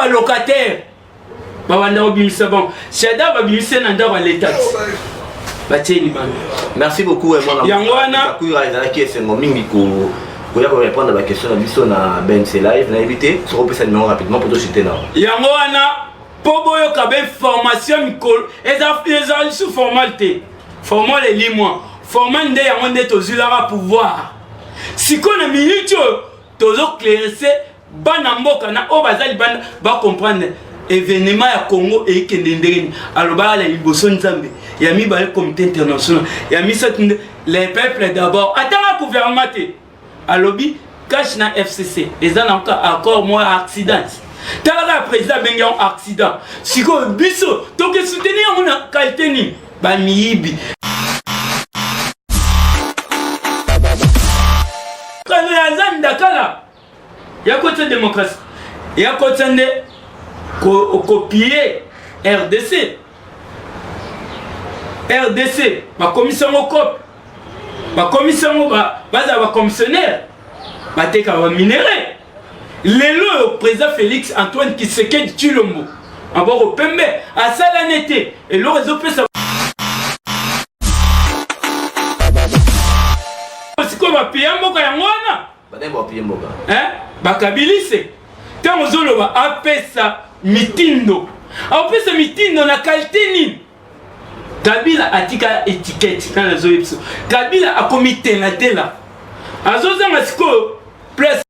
balocataire babanda kobimisa bango shada babimisi na ndako ya leta batie libanda merci beaucoup eh, yango wana ezalaki esengo mingi koya korépondre baquestion na biso na bnc live nayebi te soki opesa nimero rapidement po tosite nao yango wana mpo boyoka bainformation mikolo eza lisusu formale te formol elimwa formol nde yango nde tozwilaka pouvoir sikoyo na minute oyo tozoclairese bana mboka na oyo baza libanda bacomprendre evenema ya congo eyikende ndenge nini alobaka na liboso nzambe ya mibale comité international ya misato nde les peuples d'abord atanga gouvernement te alobi cash na fcc eza na ka accord moya accident tala kaka président abenge yango accident sikoyo biso toke soutenir yango na kalite nini bamiyibi kano ya zani dakala ya kotya démocratie ya kotya nde kopie rdc rdc bakomisi yango cope bakomisi yango bazala bacommissionnaire bateka baminerai lelo oyo président félix antoine kisekedi tshilombo maboko pembe asala ne te eloko ezopesa sikoyo bapiya mboka yango wana eh? bakabilise ntango ozoloba apesa mitindo apesa mitindo na kalite nini kabila atika etikete nani azoye biso kabila akomitelatela azozanga sikoyo place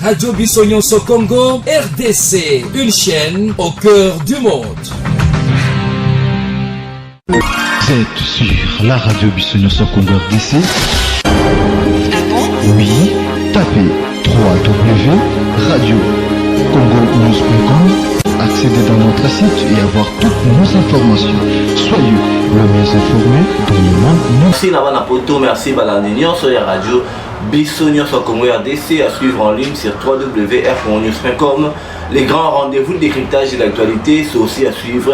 radio biso nyonso congo rdc une chaîne au cœur du monde Vous êtes sur la radio Bissonioso Congo RDC. Oui, tapez 3W Radio Congo News.com, accéder dans notre site et avoir toutes nos informations. Soyez le mieux informé dans le monde numérique. merci na bana poto merci balandi nyonso ya radio biso nyonso ya congo rdc à suivre en ligne sur www.rcongonews.com les grands rendez-vous de décryptage de l'actualité c'est aussi à suivre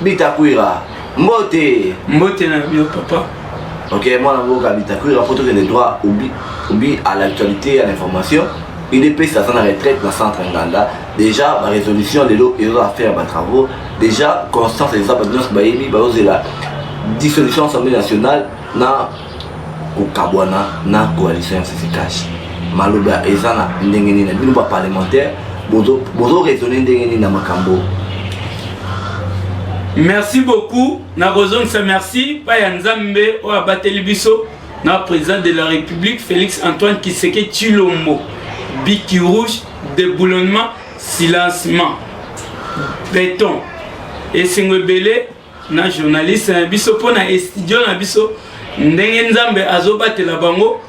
bitakwira mbote mbote na yo papa ok mwana mboka bitakwira mpo tokende droit obi obi à l'actualité ya l'information udps aza na retraite na centre nganda déjà barésolution lelo ezo affaire batravaux déjà constance eza bato nyonso bayebi bazozela dissolution assemblée nationale na kokabwana na coalition ya sisi cash maloba eza na ndenge nini bino ba parlementaire bozo raisonne ndenge nini na makambo merci beaucoup nakozongisa merci pa ya nzambe oyo abateli biso na président de la république félix antoine kiseke chilombo biki rouge deboulonnement silencement beton esengo ebele na journaliste na biso mpo na estudio na biso ndenge nzambe azobatela bango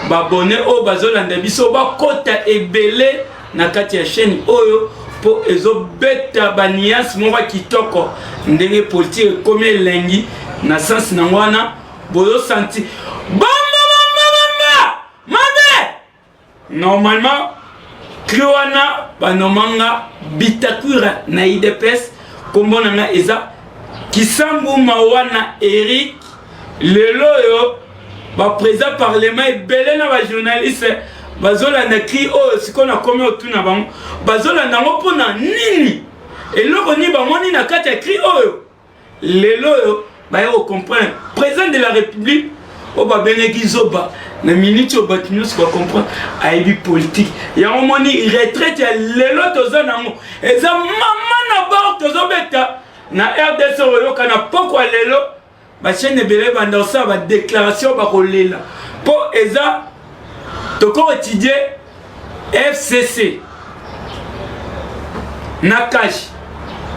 babone oyo bazolanda biso bakota ebele na kati ya chaîne oyo mpo ezobeta baniance moko kitoko ndenge politike ekomi elengi na sense nango wana bozosanti Normalement trio wana banomanga Bitakura na IDPS kombo na nga eza Kisambu Mawana Eric lelo oyo baprésident parlement ebele na bajournaliste bazolanda cri oyo oh, sikoyo nakomi otuna bango bazolanda yango mpona nini eloko nini bamoni na kati ya cri oyo oh, lelo oyo baye ko comprendre président de la république oyo babengaki zoba na miniti oyo bato nyonso bacomprendre ayebi politike yango moni retraite ya lelo toza nango eza mama na bor tozobeta na rdc oyoka na pokwa lelo bachaine ebele banda kosala badéclaration bakolela mpo eza toko étudie fcc na kashi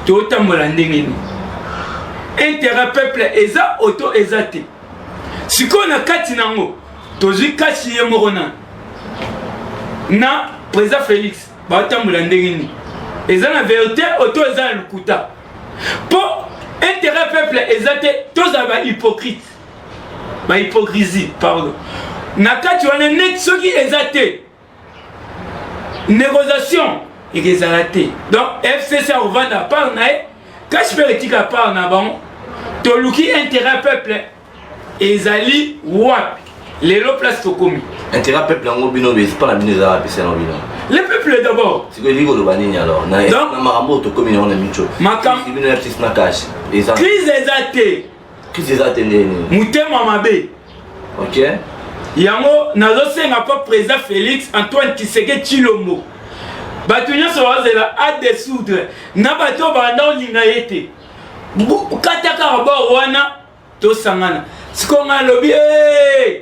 totambola ndenge nini intérêt peuple eza oto eza te sikoyo na kati nango tozwi kashi ye moko na na président félix baotambola ndenge nini eza na verité oto eza na lokuta mpo intérêt peuple eza te tozala bahypocrite ba hypocrisie pardon na kati wana neti soki eza te négociation ekezala te donc fcc akovanda part na ye kasi mpe etika part na bango toluki intérêt peuple ezali wapi lelo place tokomi intérêt peuple yango bino besipa na bino eza wapi seno bino le peuple d'abord sikoyo elingi koloba nini alors na makambo oyo tokomi nango na mico makambo bino ya ptis na cash eza crise eza te kisi eza te ndenge nini motema mabe ok yango nazosenga mpo président félix antoine kiseke tshilombo bato nyonso bazela adesoudre na bato oyo banda olinga ye te kata kaka bor wana tosangana sikoyo ngai alobi ee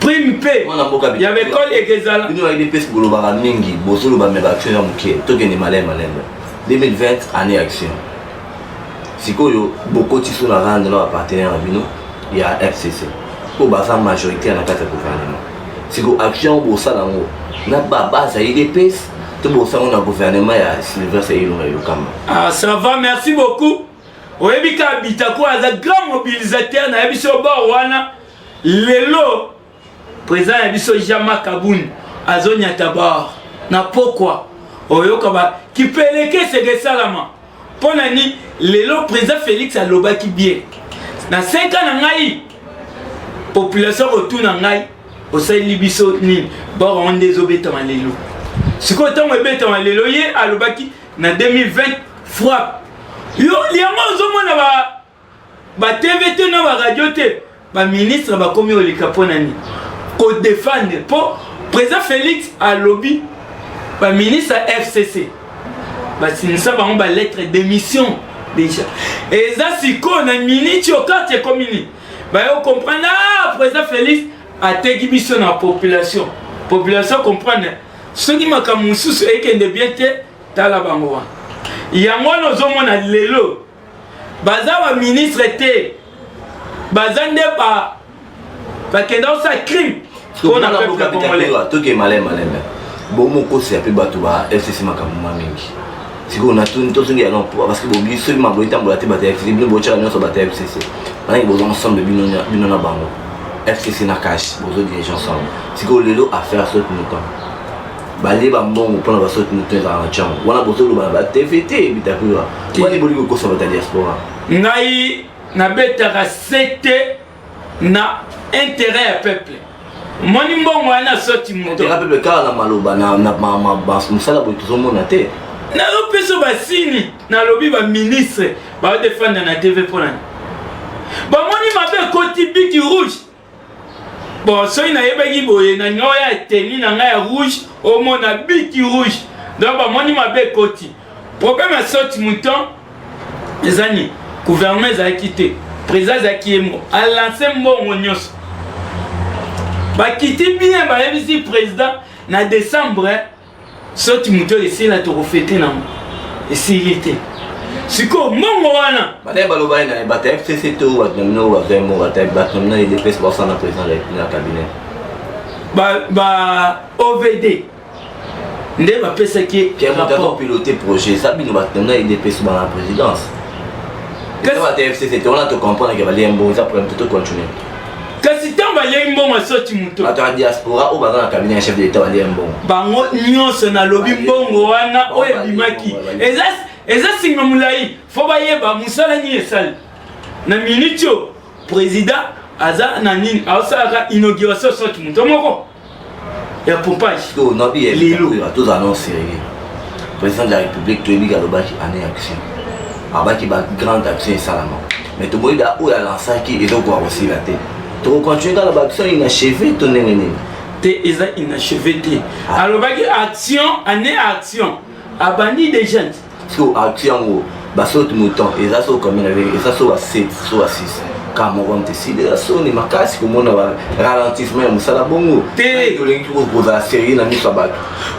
prime mpe ya baekole ekezala bino bayebi pesi bolobaka mingi bozoloba me baaction ya moke tokende malai malembe 2020 année action sikoyo bokotiso na rande na bapartenaire na bino ya fcc mpo baza majoritaire na kati ya gouvernement sikoyo action bosala yango na babase ya idps to bosala yango na gouvernement ya sylvestre elonga elokamba ah, ça va merci beaucoup oyebi ka bitako aza grand mobilisateur na biso bor wana lelo président ya biso jama kabun azonyata bor na pokwa oyoka ba kipelekese kesalama mpo na nini lelo président félix alobaki bien na 5 ans na ngai population kotuna ngai osaleli biso nini bor wana nde ezobetama lelo sikoyo ntango ebetama lelo ye alobaki na 2020 frappe yo yango ozomona ba ba tv te na ba radio te ba ministre bakomi oleka mpo na nini kodefendre mpo président félix alobi ba ministre ya fcc basinisa bango ba lettre d'émission déjà eza sikoyo na miniti oyo karte ekomi nini bayo comprendre ah président félix ateki biso na population population comprendre soki makambo mosusu ekende bien te tala bango wana yango wana ozomona lelo baza baministre te baza nde ba bakenda kosala crime mpona peuple congolais toke malemalembe bomokosi ya mpe bato ba fcc makambo ma mingi sikoyo natuni tozongela no mpo parce que bobi soki mambo etambola te bato ya fcc bino botyaka nyonso bato ya fcc manaki boza ensemble bino na bango fcc na cash bozo dirige ensemble sikoyo lelo affaire saute mouton balie bambongo mpona basaute mouton ezalaka na cango wana bozoloba na batv te bitakura wani bolingi kokosa bato ya diaspora ngai nabetaka sete na intérêt ya peuple moni mbongo wana soti moto peuple kaka na maloba na mosala boye tozomona te nazopesa basini nalobi baministre baodefanda na tv mpo nani bamoni mabe ekoti biki rouge bon soki nayebaki boye na nioya eteni na ngai ya rouge omona biki rouge donc bamoni mabe ekoti Problème ya saute mouton eza nini? Gouvernement ezalaki te, président azalaki ye moko, alanse mbongo nyonso. Bakiti bien bayebisi président na décembre saute mouton esila tokofete nango esili te. sikoyo mbongo wana bataye baloba ye naye bataye fcc to bato na bino bazwa yango bataye bato na bino edps basala na président na cabinet ba ovd nde bapesaki ye rapport pilote projet eza bino bato na edps bana présidence kasi ntango balei mbongo asoti moto bato ya diaspora oyo baza na kabine ya chef de l'état balei mbongo bango nyonso nalobi mbongo wana oyo ebimaki eza singa molai fo bayeba mosala nini esali na miniti oyo président aza na nini aosalaka inauguration soti moto moko ya pompage to na bi lelo to za non sérieux président de la république to yebi kaloba ki année action abaki ba grande action esalama mais to boyi da oyo alansaki ezo ko akosila te to continue kala ba action ina cheveux to ndenge nini te eza inachevé te alobaki action année action abandi deja so ati yango basote motan eza so combien na vérité eza so ba 7 so ba 6 kaka moko mte sida eza soni makasi komona ba ralentissement ya mosala bongo te tolingi kozala sérieux na miso ya bato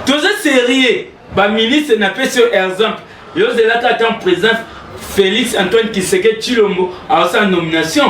toza sérieux baministre napesi yo exemple yozelaka ata président félix antoine kiseke tshilombo aosala nomination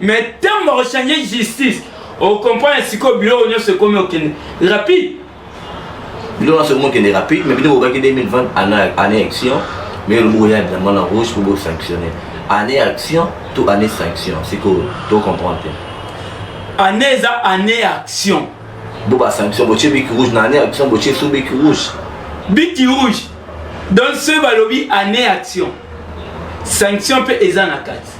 mais ntango bakochange justice okomprendre sikoyo biloko nyonso ekomi okende rapide biloko nyonso ekomi okende rapide mais bino bokaki 2020 année action mais olobi koya diamant na rouge po bosanctionne année action to année sanction sikoyo tocomprendre te année eza année action bo basanction botie biki rouge na année action botie so biki rouge biki rouge donc soki balobi année action sanction mpe eza na kati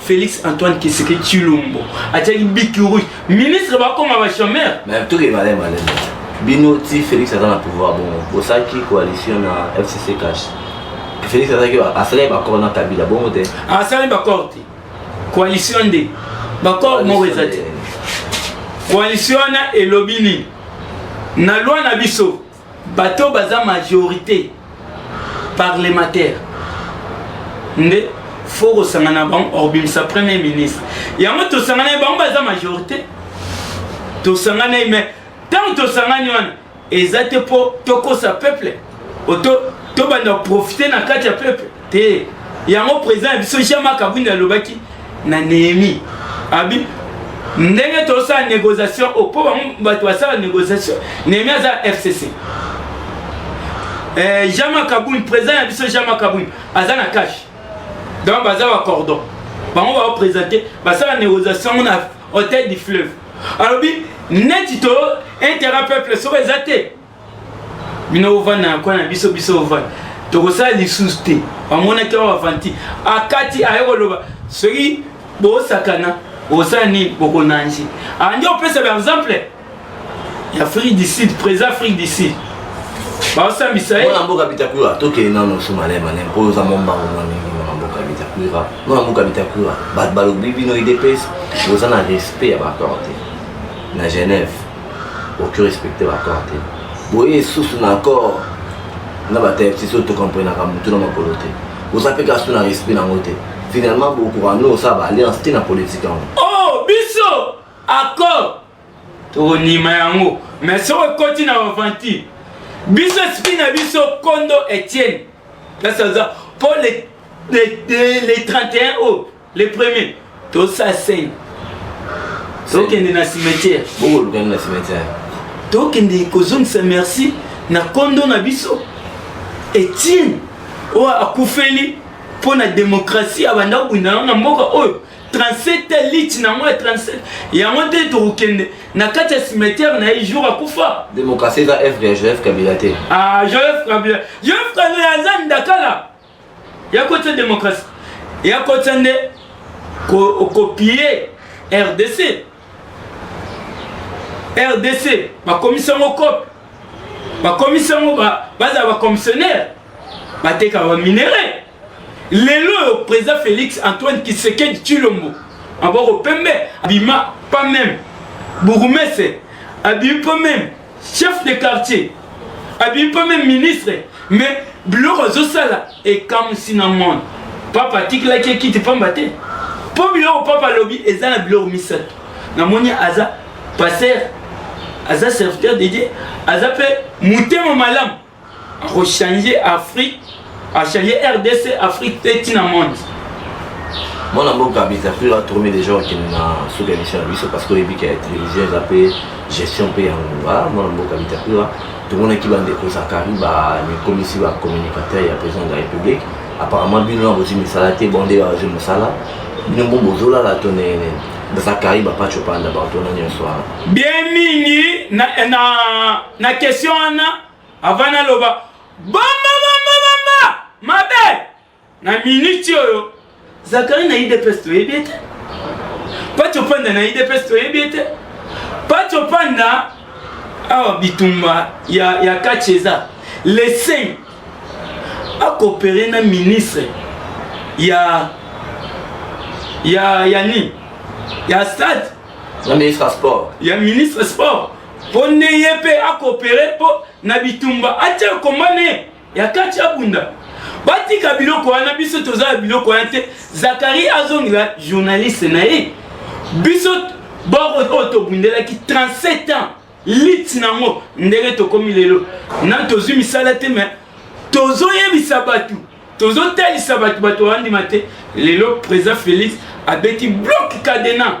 Félix Antoine Kiseke Chilombo atiaki biki rouge ministre bakoma ba chômeur mais tout est malin malin bino ti Félix aza na pouvoir bon bosaki coalition na FCC cash Félix azaki asalaki bakor na Kabila bongo te asalaki bakor te coalition nde bakor moko eza te coalition wana elobi nini na loi na biso bato baza majorité parlementaire nde fo kosangana bango obimisa premier ministre yango tosangana ye bango baza majorité tosangana ye mais ntango tosangani wana eza te mpo tokosa peuple oto tobanda profite na kati ya peuple te yango président ya biso jean marc abwindi alobaki na nehemi abi ndenge tosala négociation oyo mpo bango bato basala négociation nehemi aza fcc eh, jean marc abwindi président ya biso jean marc abwindi aza na cash donc baza bacordon bango baoprésente basala négociation ngo na hôtel du fleuve alobi neti to intérêt peuple soko eza te bino bovanda na kona na biso biso bovanda tokosala lisusu te bamonaki yango bavanti akati aye koloba soki bosakana osala nini bokonange andi opesa ba exemple ya afrique du sud président afrique du sud baosambisa ye na mboka bitakura tokende nano su malai malai mpo oza mombango mwa mingi na mboka bitakura no na mboka bitakura bato balobi bino idps boza na respect ya baaccord te na genève oki respecte bacor te boye esusu na accord na batayepsis oyo tokomprenaka motu na makolo te oza mpe kasi na respect nango te finalement bokoka no osala baalliance te na politike yango o oh, biso accord tokondima yango mais soki ekoti na aventure biso esprit na biso kondo etienne kasi aza mpo le 31 août le premier tosa sel tokende na cimetière bokolukani na cimetière tokende kozongisa merci na kondo na biso etienne oyo akufeli mpo na demokrasi abanda kobunda yango na mboka oyo 37 liti na yango ya 37 yango nde tokokende na kati ya cimetière na ye jour akufa demokrasi eza evre ya joseph kabila te ah joseph kabila joseph kabila aza ndakala ya kotia démocratie ya kotia nde kopie rdc rdc bakomisi yango cope bakomisi yango bazala bacommissionnaire batekaka baminerai lelo oyo président félix antoine kisekedi tshilombo aboko pembe abima pas même bourgmestre abimi pas même chef de quartier abimi mpe meme ministre me biloko azosala ekamwisi na monde papa atikelaki ekiti mpamba te mpo biloko papa alobi eza na biloko misato namoni aza paster aza serviteur de dieu aza mpe motema malamu Ako changer Afrique, a changer RDC, Afrique te tina monde. mwana mboka bizafir atourmi déjà okende na suka émission na biso parce que oyebi ke télévision eza mpe gestion mpe ya ngonga mwana mboka bizafira tomonaki bandeko zakari bamikomisi bacommunicateur ya président de la république apparemment bino na bozwi misala te bonde bazwi mosala bino mpo bozolala to ndenge nini zakari bapaco panda bato wana nyonso wana bien mingi na, na na question wana avant naloba bamba bamba bamba mabe na miniti oyo zakari na idps toyebi ete paco panda na idps toyebi ete paco panda awa bitumba ya, ya kati eza lesin akopere na ministre ya ya ya nini ya stade ya ministre ya sport ya ministre sport mpo nde ye mpe akopere mpo na bitumba atya komba ne ya kati abunda batika biloko wana biso toza na biloko wana te zakari azongela journaliste na ye biso boko oyo tobundelaki 37 ans lit nango ndenge tokomi lelo na tozwi misala te me tozoyebisa bato tozotalisa bato bato bandima te lelo président félix abeti bloc cadena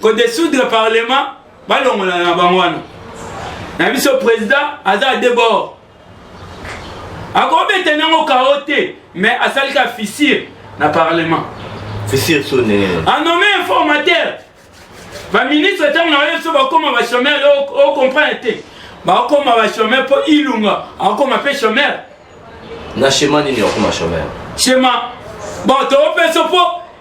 ko desoudre parlement balongola na bango wana na biso président aza de bord akobeta nango kao te mais asali ka fissure na parlement fissure so ndenge anome informateur baministre ntango na yo biso bakoma bachomere ocomprendre te bakoma bachomere mpo ilunga akoma mpe chomere na shema nini okoma chomere shema bon topesa mpo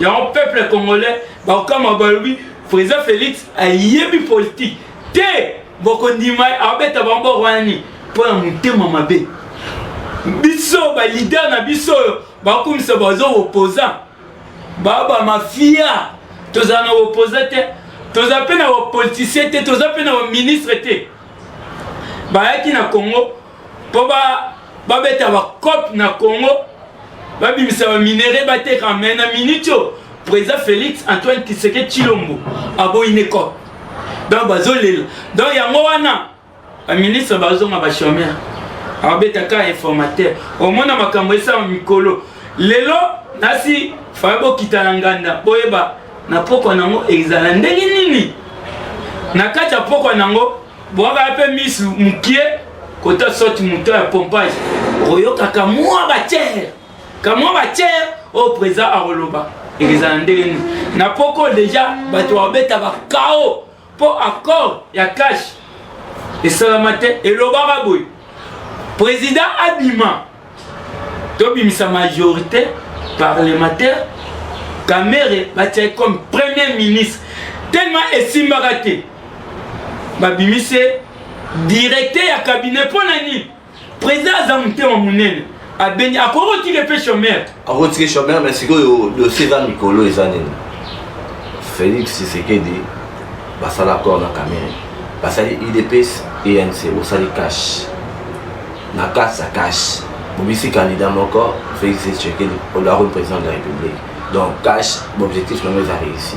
yango peuple congolais bakokama balobi président félix ayebi politique te bokondima abeta bango boko wana nini mpo na motema mabe biso balider na biso oyo bakumisa bazo opposant baa bamafia tozala na opposant te toza mpe na bapoliticien te toza mpe na baministre te bayaki na congo mpo babeta ba bacope na congo babimisa baminere bateka mai na miniti oyo président félix antoine kiseke chilombo aboyi ne cope donc bazolela donc yango wana baministre bazonga bachomere ababetaka informateur omona makambo esala mikolo lelo nasi faya bokita na nganda boyeba na pokwa nango ezala ndenge nini na kati ya pokwa nango bwaka mpe misu mokie kota soti moto ya pompage okoyokaka mwa batiere kamwa batiere oyo président akoloba ekozala ndenge nini na poko deja bato babeta bakao mpo accord ya cash esalama te elobaka boye président abima tobimisa majorité parlementaire kamere batiaki comme premier ministre tellement esimbaka te babimisi directeur ya cabinet mpo na nini président aza motema monene abengi akoki kotika mpe chomere akotiki chomeur mais sikoyo dossier eza mikolo eza nini félix tshisekedi basala accord na kamere basali udps enc bosali cash na kati ya cash bobisi candidat moko félix tshisekedi olakoni président de la république donc cash baobjectif nango eza réussi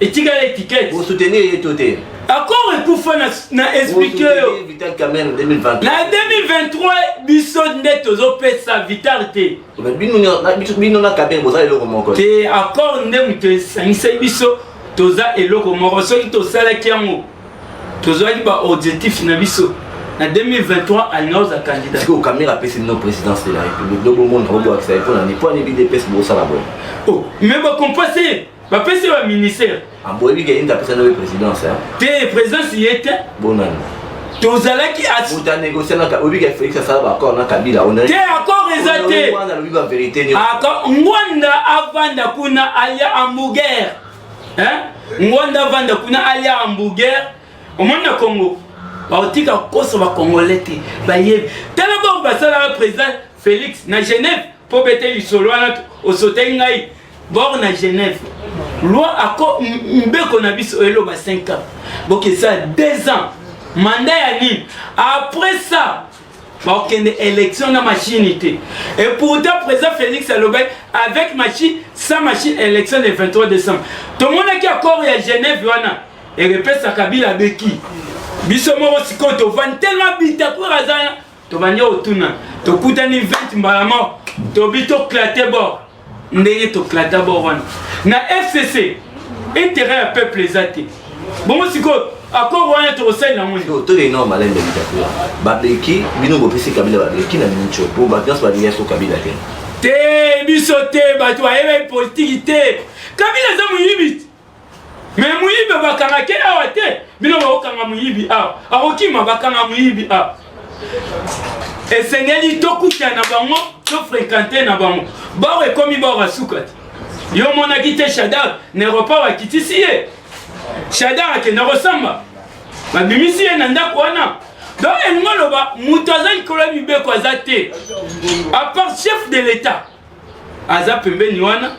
etikala etiquette bo soutenir ye to te accord ekufa na, na explike yo na 2023 biso nde tozopesa vital te bino na kabe boza eloko moko te accord nde moto esangisaki biso toza eloko moko soki tosalaki yango tozwaki baobjectif na biso na 2023 alinga oza candidat sikoyo kamera apesi bino présidence de la république lobomona obwakisa ye mpo na nini mpo ani bidps bosala boye oh mais bakompase bapesi ye ba ministère aboyebi ke yende apesa naye présidence te présidence ye te bonani tozalaki moto anegocianaka oyebi ke félix asala baaccord na kabila te accord eza te alobi baverité nyonso ngwanda avanda kuna alia hamburger ngwanda avanda kuna alia hamburger omoni na congo bakotika kokosa bacongolais te bayebi tala bango basalaka président félix na genève mpo bete lisolo wana osotaki ngai bor na genève loi ako mbeko na biso eloba 5 ans bokesa 2 ans manda ya nini après ça bakokende élection na machine te et pourtant président félix alobaki avec machine sans machine élection le 23 décembre tomonaki accord ya genève wana ekepesa kabila abeki biso moko sikoyo tovandi tellement bitakwera aza tobandi otuna tokutani 20 mbala moko tobi toclate bor ndenge toclata bor wana na fcc intérêt ya peuple eza te bongo sikoyo accord wana tokosalela yango nini toyei nao malembe litakula babeki bino bopesi kabila babeki na minco mpo bato nyonso balingi aso kabila te te biso te bato bayebi politiki te kabila aza moyibi Mais muyibi bakanga ke awa te bino bakokanga muyibi awa akokima bakanga muyibi awa esengeli tokuta na bango tofrekante na bango bawa ekomi bawa basuka te yo omonaki te shadar na eropa bakitisi ye shadar akenda kosamba babimisi ye na ndako wana donc elingi oloba moto aza likolo ya mibeko aza te apart chef de l'etat aza pembeni wana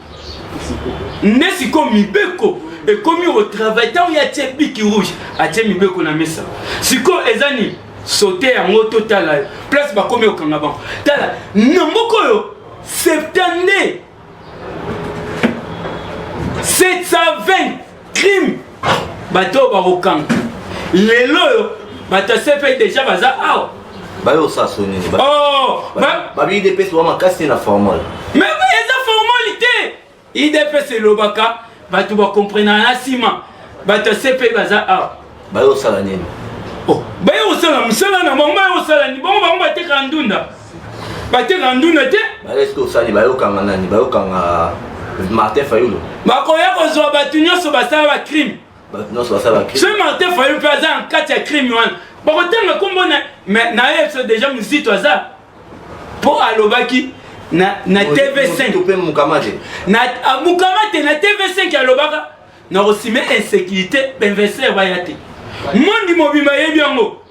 nde sikoyo mibeko ekomi kotravaille ntango ye atie biki rouge atie mibeko na mesa sikoyo eza nini sote yango totala place bakomi kokanga bango tala na moko oyo septande 720 crime bato oyo bakokanga lelo oyo bato ya cpi deja baza awa bayo osaso nini oh, babi idps wa makasi na formol me eza formoli te idps elobaka bato bakomprenaka na nsima bato ya cpi baza awa bayo osala nini oh, bayo osala mosala na bango bayo osala nini bango bango batekaka ndunda bateka nduna te baeske osali bayokanga nani bayokanga martin fayulu bakoya kozwa bato nyonso basala bacrime bato nyonso basala bacrime soki martin fayulu mpe aza na kati ya crime wana bakotanga nkombo naye biso deja mozito aza mpo alobaki na, na tv5 mpe mokama te na ah, mokama te na tv5 alobaka nakosime insécurité bainvestir baya te mondi mobimba yebi yango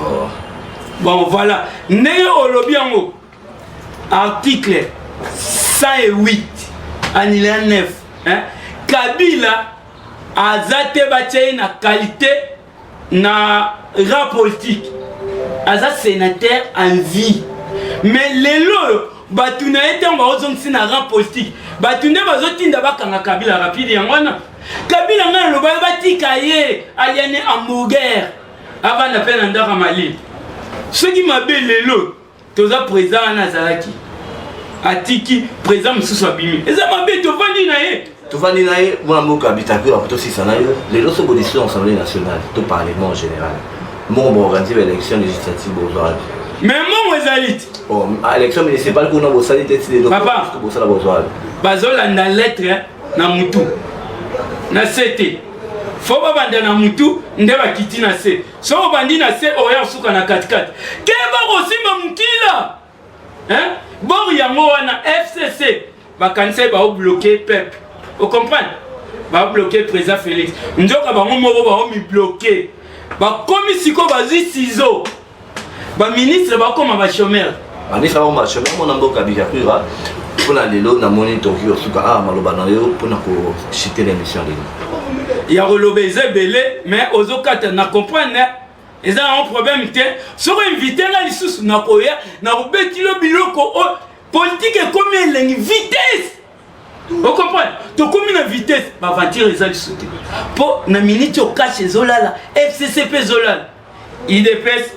oh. bon voilà ndenge olobi yango article 108 anila 9 hein? kabila aza te batya ye na qualité na ra politique aza sénateur en vie mais lelo oyo bato na ye ntango baozongisi na rang politique bato nde bazotinda bakanga kabila rapide yango wana kabila ngai alobaki batika ye aliane hamburger avanda mpe na ndaka malili soki mabe lelo toza président wana azalaki atiki président mosusu abimi eza mabe tovandi na ye tovandi na ye mwana mboka abitaki oyo akotosisa na yo lelo so bodeside na assemblée nationale to parlement en général mbongo baorganize baélection législative bozwaki mais mbongo ezali te oh, ah, élection municipale kuna bosali te ti lelo bosala bozwaki bazolanda lettre na motu na sete fo babanda na mutu nde bakiti na se soki obandi na se oya kosuka na katikati keba kosimba mokila bor yango wana fcc bakanisaki baobloke peuple ocomprendre babloke président félix nzoka bango moko baomibloke bakomi sikoyo bazwi sizo ba ministre bakoma ba chômeur ba ministre bakoma ba chômeur mona mboka bikakura mpona lelo namoni tokoki kosuka awa ah, maloba na yo mpona koshite na émission lelo ya koloba eza ebele mais ozokata na comprendre hein? eza yango problème te soko invité nga lisusu nakoya nakobeti yo biloko oyo oh, politike ekomi elengi vitesse okomprendre tokomi na vitesse baventure eza liso te mpo na miniti okashi ezolala fcc mpe ezolala idps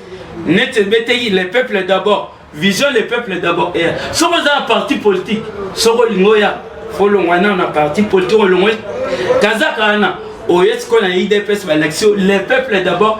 neti ebeteki le peuple d'abord vision le peuple d'abord eya soki oza na parti politique soki olingi oya folongwa nao na parti politique olongwe kazaka wana oye sikoyo na idps balakisi yo le peuple d'abord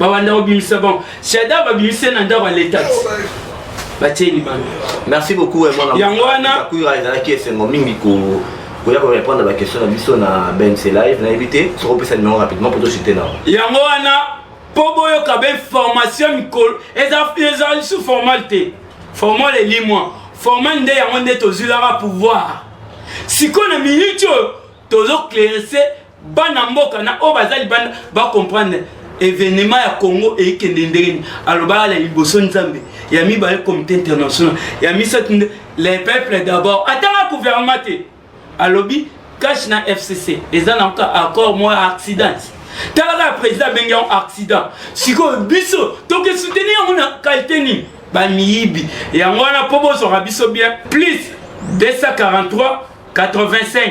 babanda kobimisa bango shada babimisi ye na ndako ya leta batie libanda merci beaucoup yango wana ezalaki esengo mingi koya korépondre na baquestion na biso na bense live nayebi te soki opesa numero rapidement mpo tosite nao yango wana mpo boyoka bainformation mikolo eza lisusu formale te formale elimwa formale nde yango nde tozwilaka pouvoir sikoyo na minute oyo tozoclairese bana mboka na oyo baza libanda bacomprendre evenema ya congo eyikende ndenge nini alobaka na liboso nzambe ya mibale comité international ya misato nde les peuples d'abord atanga gouvernement te alobi cash na fcc eza na ka accord moko ya accident tala kaka président abengi yango accident sikoyo biso toke soutenir yango na kalite nini bamiyibi yango wana mpo bozwaka biso bien plus 243 85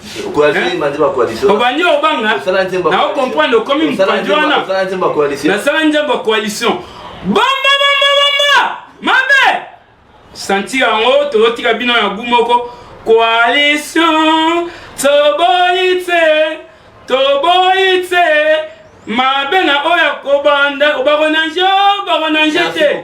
obandi obanga na ocomprendre okomi mopanzi wana nasala nzembo ya coalition bamba bamba bamba mabe santi yango tozotika bino ya gu moko coalition toboyi te toboyi te mabe na oyo akobanda obako na nje obako na nje te